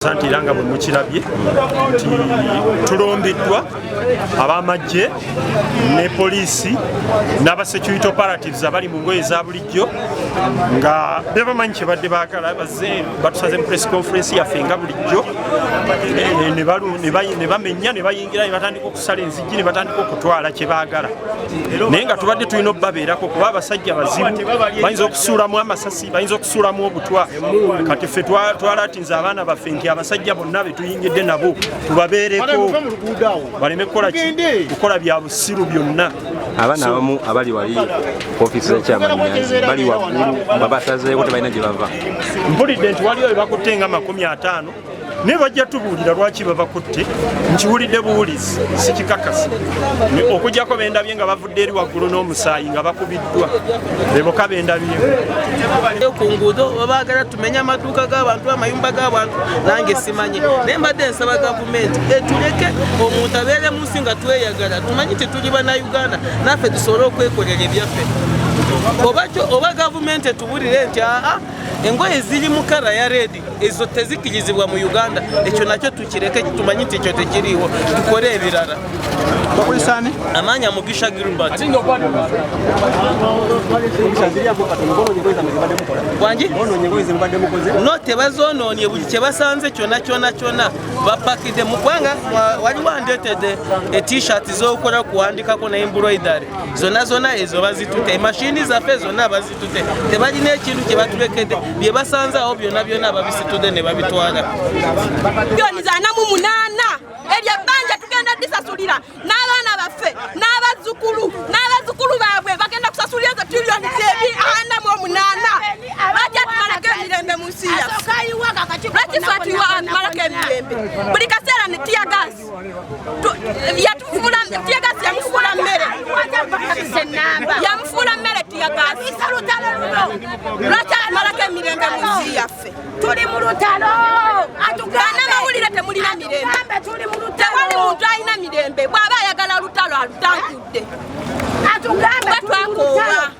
Asante era nga bwe mukirabye nti tulumbiddwa ab'amagye ne poliisi n'aba security operatives abali mu ngoye za bulijjo nga bebamanyi kyebadde baagala baze batusaze mu press conference yaffe nga bulijjo ne bamenya ne bayingira ne batandika okusala enzijji ne batandika okutwala kye baagala naye nga tubadde tulina okubabeerako kuba abasajja bazibu bayinza okusuulamu amasasi bayinza okusuulamu obutwa kati ffe twala nze abaana baffe nti abasajja bonna betuyingidde nabo tubabeereko baleme kukola bya busiru byonna abaana abamu abali wali ofiisi zakyamanyazi bali waggulu babasazeeko tebalina gye bava mpulidde nti waliwo bebakutte nga makumi ataano naye bajja tubuulira lwaki babakutte nkiwulidde buwulizi sikikakasa okujjako bendabye nga badde eri waggulu n'omusaayi nga bakubiddwa beboka bendabyeyo ku nguudo babaagala tumenye amaduuka g'abantu amayumba g'abantu nange simanye naye mbadde nsaba gavumenti etuleke omuntu abeere mu nsi nga tweyagala tumanyi tetuli banauganda naffe tusobole okwekolera ebyaffe oba gavumenti etubulire nti aa engoye ziri mu kala ya red ezo tezikirizibwa mu uganda ekyo nakyo tukireke tumanyi nti ekyo tekiriiwo tukole ebirala bakulisani amanya mugisha gilbert wangi no tebazononye buli kyebasanze kyona kyona kyona bapakide mugwanga wali wandetede etishat zokukola kuwandikako ne embroidery zona zona ezo bazitute emashini zaffe zona tebalina ekintu kye batulekedde bye basanze awo byonna byonna babisitudde ne babitwala byoni zanamu munaana ebyo ebbanja tugenda disasulira n'abaana baffe n'abazzukulu n'abazzukulu baabwe bagenda kusasulira ezo tiriyoni zebi ana mu omunaana lwaki atumalako emirembe mu nsi yaffe lwaki fatuyiwa atumalako emirembe buli kaseera ne tiyagaasi yamufuula mmere yamufuula mmere tiyagaziisa lutalo luno lwaki amalako emirembe mu nsi yaffe tuli mu lutalo banamawulire temulina mirembe tewali muntu alina mirembe bw'aba ayagala lutalo alutangudde bwetwakoowa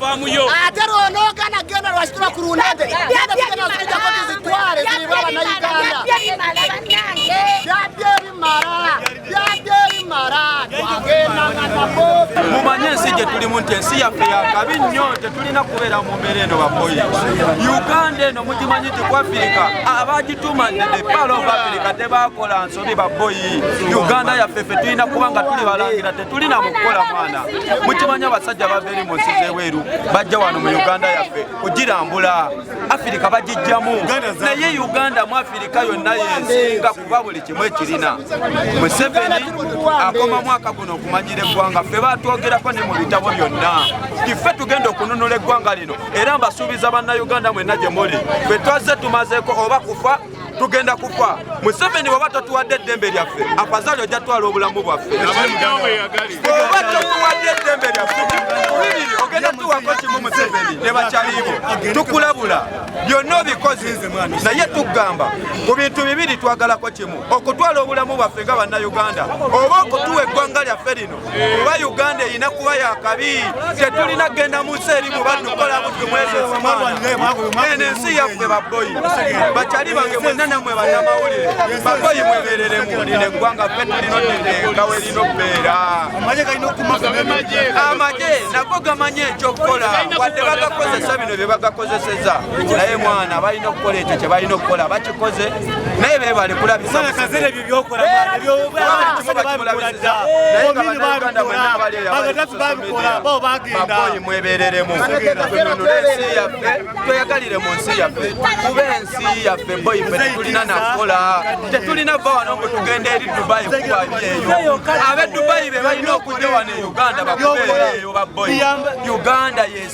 faamu yo ate lwonoogana genda lwaki tuba ku lunade genda tugenda zikujako tuzitwale ziriba bannayuganda byabye ebimala byabye ebimala twagendanga nabo mumanye ensi gye tulimu nti ensi yaffe yakabi nnyo tetulina kubeera mu mbeera eno bakoyi uganda eno mugimanyi nti ku afirika abagitumanidde palo of afirika tebakola tuli baboyi uganda yaffe ffe tulina kuba nga tuli balangira tetulina mukukola mwana mukimanya abasajja bava eri munsi zebweru bajja wano mu uganda yaffe kugirambula afirika bagijjamu naye uganda mu afirika yonna yensinga kuba buli kimu ekirina museveni akoma mwaka guno okumanyira eggwanga ffe batwogerako ne mu bitabo byonna tiffe tugenda okununula eggwanga lino era mbasuubiza bannayuganda mwenna gye muli ffe twazze tumazeeko oba kufa tugenda kufa museveni bwaba tatuwadde eddembe lyaffe afazali ojja twala obulamu bwaffe oba totuwadde eddembe lyaffe bibiri ogenda tuwako kimu museveni ne bakyaliibo tukulabula byonna obikozi naye tugamba ku bintu bibiri twagalako kimu okutwala obulamu bwaffe nga bannayuganda oba okutuwa eggwanga lyaffe lino kuba uganda erina kuba yakabi tetulina kugenda mu nsi erimu badukola buddu mwezi eno ensi yaffe baboyi bakyali bange mwena namwe banamawulire baboyi mwebereremu lino eggwanga ffe tulina otendenga werina okubeera amagye nago gamanye ekyokukola wadde bagakozesa bino bye bagakozeseza naye mwana balina okukola ekyo kye balina okukola bakikoze naye bebale kulabisa ebyokola mwana ebyobalimulabizza omini babikola bagatafu babikola bo bagenda mwebereremu tununule ensi yaffe tweyagalire mu nsi yaffe kuba ensi yaffe boyi fe tetulina nakola tetulina va wano mbu tugenda eri dubayi kubabyeyo abe dubayi be balina okujja wano e uganda bakubeereyo baboyi uganda yes